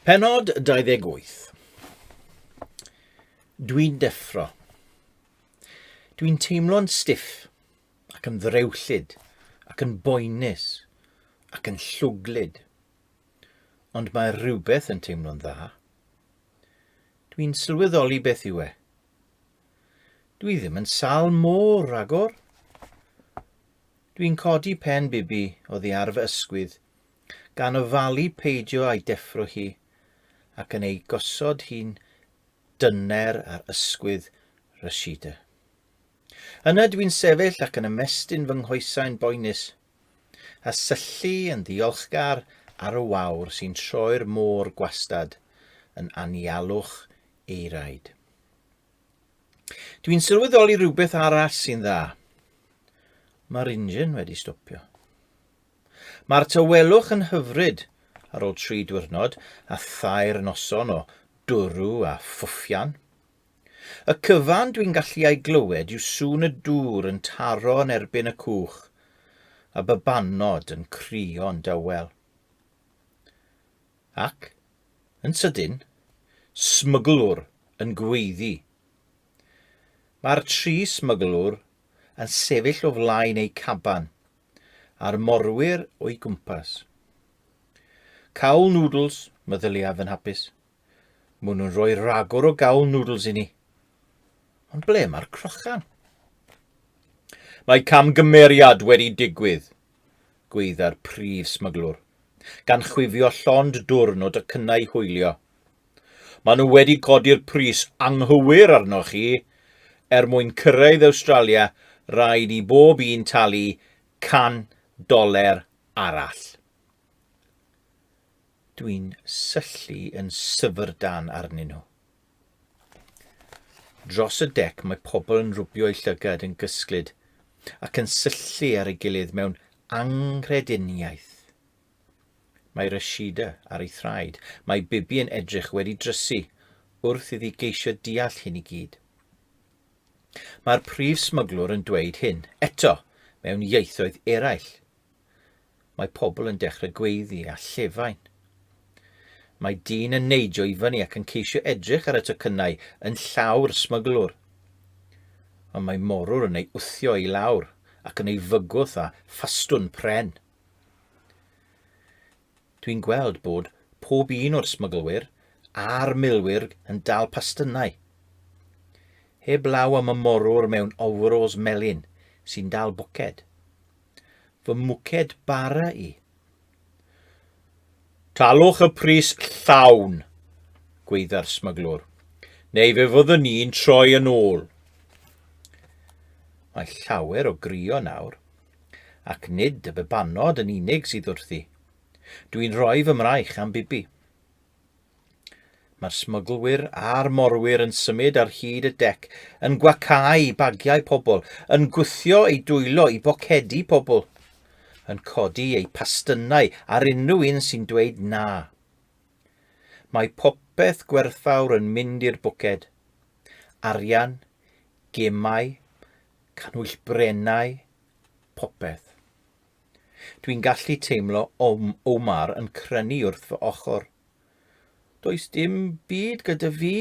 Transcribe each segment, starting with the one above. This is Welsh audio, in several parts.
Penod 28 Dwi'n deffro. Dwi'n teimlo'n stiff ac yn ddrewllyd ac yn boenus ac yn llwglyd. Ond mae rhywbeth yn teimlo'n dda. Dwi'n sylweddoli beth yw e. Dwi ddim yn sal môr ragor. Dwi'n codi pen Bibi oddi ar fy ysgwydd, gan ofalu peidio a'i deffro hi, ac yn ei gosod hi'n dyner ar ysgwydd Rashida. Yna dwi'n sefyll ac yn ymestyn fy nghoesau'n boenus, a syllu yn ddiolchgar ar y wawr sy'n troi'r môr gwastad yn anialwch ei raid. Dwi'n sylweddoli rhywbeth arall sy'n dda. Mae'r injin wedi stopio. Mae'r tawelwch yn hyfryd ar ôl tri diwrnod a thair noson o dwrw a ffwffian. Y cyfan dwi'n gallu ei glywed yw sŵn y dŵr yn taro yn erbyn y cwch, a babanod yn crio'n dawel. Ac, yn sydyn, smyglwr yn gweiddi. Mae'r tri smyglwr yn sefyll o flaen eu caban, a'r morwyr o'i gwmpas. Cawl noodles, meddyliaf yn hapus. Mwn nhw'n rhoi ragor o gawl noodles i ni. Ond ble mae'r crochan? Mae camgymeriad wedi digwydd, gwaedda'r prif smyglwr, gan chwifio llond dwrn o docynnau hwylio. Maen nhw wedi codi'r pris anghywir arnoch chi. Er mwyn cyrraedd Awstralia, rhaid i bob un talu 100 doler arall. Dwi'n syllu yn syfrdan arnyn nhw. Dros y dec mae pobl yn rwbio eu llygad yn gysglyd ac yn syllu ar ei gilydd mewn anghrediniaeth. Mae Rashida ar ei thraed, mae Bibi yn edrych wedi drysu wrth iddi geisio deall hyn i gyd. Mae'r prif smyglwr yn dweud hyn, eto, mewn ieithoedd eraill, Mae pobl yn dechrau gweiddi a llefain. Mae dyn yn neidio i fyny ac yn ceisio edrych ar y tocynnau yn llaw'r smyglwr. Ond mae morwr yn ei wthio i lawr ac yn ei fygwth â phastwn pren. Dwi'n gweld bod pob un o'r smyglwyr a'r milwyr yn dal pastynnau. Heb law am y morwr mewn ofwrôls melyn sy'n dal bwced. fy mwced bara i. Talwch y pris llawn, gweidda'r smuglwr, neu fe fyddwn ni'n troi yn ôl. Mae llawer o grio nawr, ac nid y bebanod yn unig sydd wrthi. Dwi'n rhoi fy mraich am Bibi. Mae'r smyglwyr a'r morwyr yn symud ar hyd y dec, yn gwacáu bagiau pobl, yn gwthio eu dwylo i bocedi pobl, yn codi eu pastynnau ar unrhyw un sy'n dweud na. Mae popeth gwerthfawr yn mynd i'r bwced. Arian, gemau, cannwyll brennau, popeth. Dwi'n gallu teimlo Om Omar yn crynu wrth fy ochr. Does dim byd gyda fi!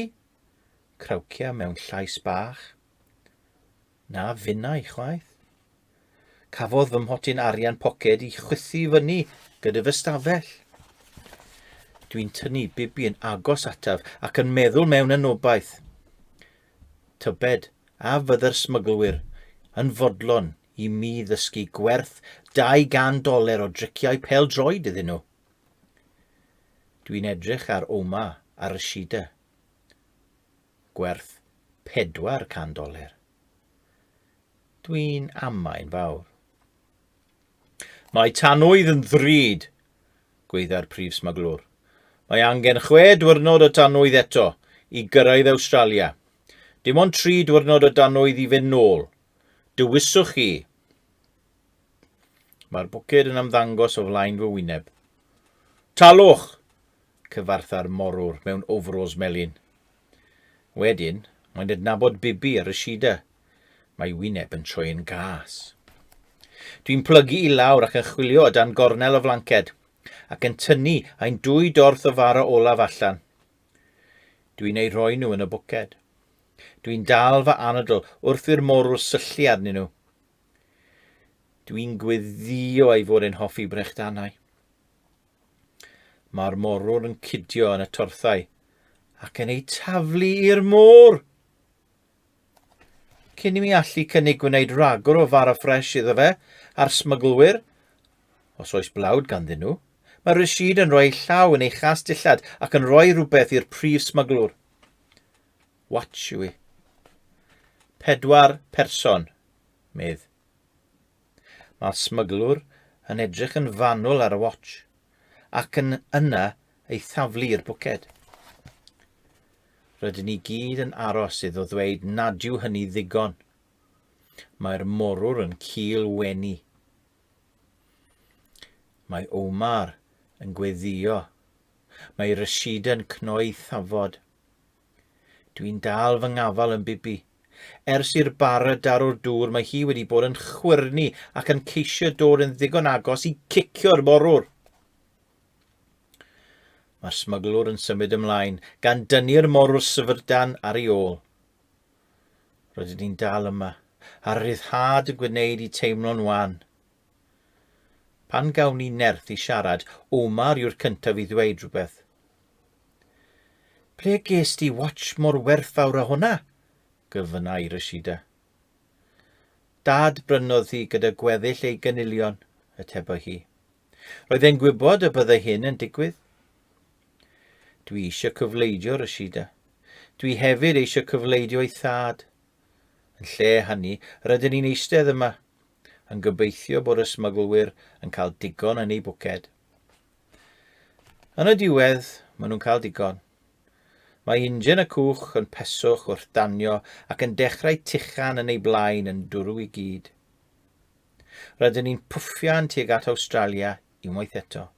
Crawcia mewn llais bach. Na finnau chwaith. Cafodd fy mhotyn arian poced i chwythu fyny gyda fy stafell. Dwi'n tynnu bibi yn agos ataf ac yn meddwl mewn anobaith. Tybed a fydde'r smyglwyr yn fodlon i mi ddysgu gwerth 200 doler o driciau pêl-droed iddyn nhw. Dwi'n edrych ar Oma a Rashida. Gwerth 400 doler. Dwi'n amain fawr. Mae tanwydd yn ddrud, gweidda'r prif smaglwr. Mae angen chwe diwrnod o danwydd eto i gyrraedd Awstralia. Dim ond tri diwrnod o danwydd i fynd nôl, Dewiswch chi. Mae'r bwced yn ymddangos o flaen fy wyneb. Talwch! cyfartha'r morwr mewn ofrôls melyn. Wedyn, mae'n adnabod Bibi a Rashida. Mae wyneb yn troi'n gas. Dwi'n plygu i lawr ac yn chwilio o dan gornel o flanced, ac yn tynnu ein dwy dorth o fara olaf allan. Dwi'n eu rhoi nhw yn y bwced. Dwi'n dal fy anadl wrth i'r morw syllu arnyn nhw. Dwi'n gweddio ei fod e'n hoffi brechdanau. Mae'r morwr yn cydio yn y torthau ac yn eu taflu i'r môr. Cyn i mi allu cynnig gwneud rhagor o fara ffres iddo fe a'r smyglwyr, os oes blawd ganddyn nhw, mae Rashid yn rhoi llaw yn ei chas dillad ac yn rhoi rhywbeth i'r prif smyglwr. Watch yw i. Pedwar person, medd. Mae'r smyglwr yn edrych yn fanwl ar y watch, ac yn yna ei thaflu i'r bwced. Rydyn ni gyd yn aros iddo ddweud nad yw hynny ddigon. Mae'r morwr yn cil wenu. Mae Omar yn gweddio. Mae Rashida'n cnoi thafod. Dwi'n dal fy ngafal yn Bibi. Ers i'r bara daro'r dŵr mae hi wedi bod yn chwyrnu ac yn ceisio dod yn ddigon agos i cicio'r morwr. Mae'r smuglwr yn symud ymlaen, gan dynnu'r morwr syfrdan ar ei ôl. Rydyn ni'n dal yma, a'r rhyddhad yn gwneud i teimlo'n wan. Pan gawn ni nerth i siarad, Omar yw'r cyntaf i ddweud rhywbeth. Ble ges di watch mor werthfawr â hwnna? gofynnai Rashida. Dad brynodd hi gyda gweddill ei gynilion, y tebo hi. Roedd e'n gwybod y byddai hyn yn digwydd. Dwi eisiau cyfleidio, Rashida. Dwi hefyd eisiau cyfleidio ei thad. Yn lle hynny, rydyn ni'n eistedd yma, yn gobeithio bod y smyglwyr yn cael digon yn eu bwced. Yn y diwedd, maen nhw'n cael digon. Mae ingen y cwch yn peswch wrth danio ac yn dechrau tuchan yn ei blaen yn dwrw i gyd. Rydyn ni'n pwffian tuag at Awstralia unwaith eto.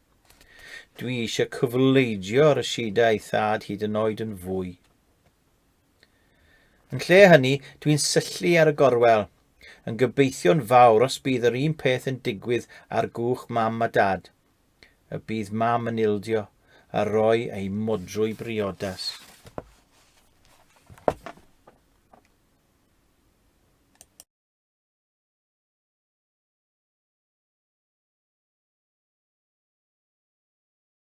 Dwi eisiau cyfleidio rhysiedau ei thad hyd yn oed yn fwy. Yn lle hynny, dwi'n syllu ar y gorwel, yn gobeithio'n fawr os bydd yr un peth yn digwydd ar gwch mam a dad. Y bydd mam yn ildio a roi ei modrwy briodas.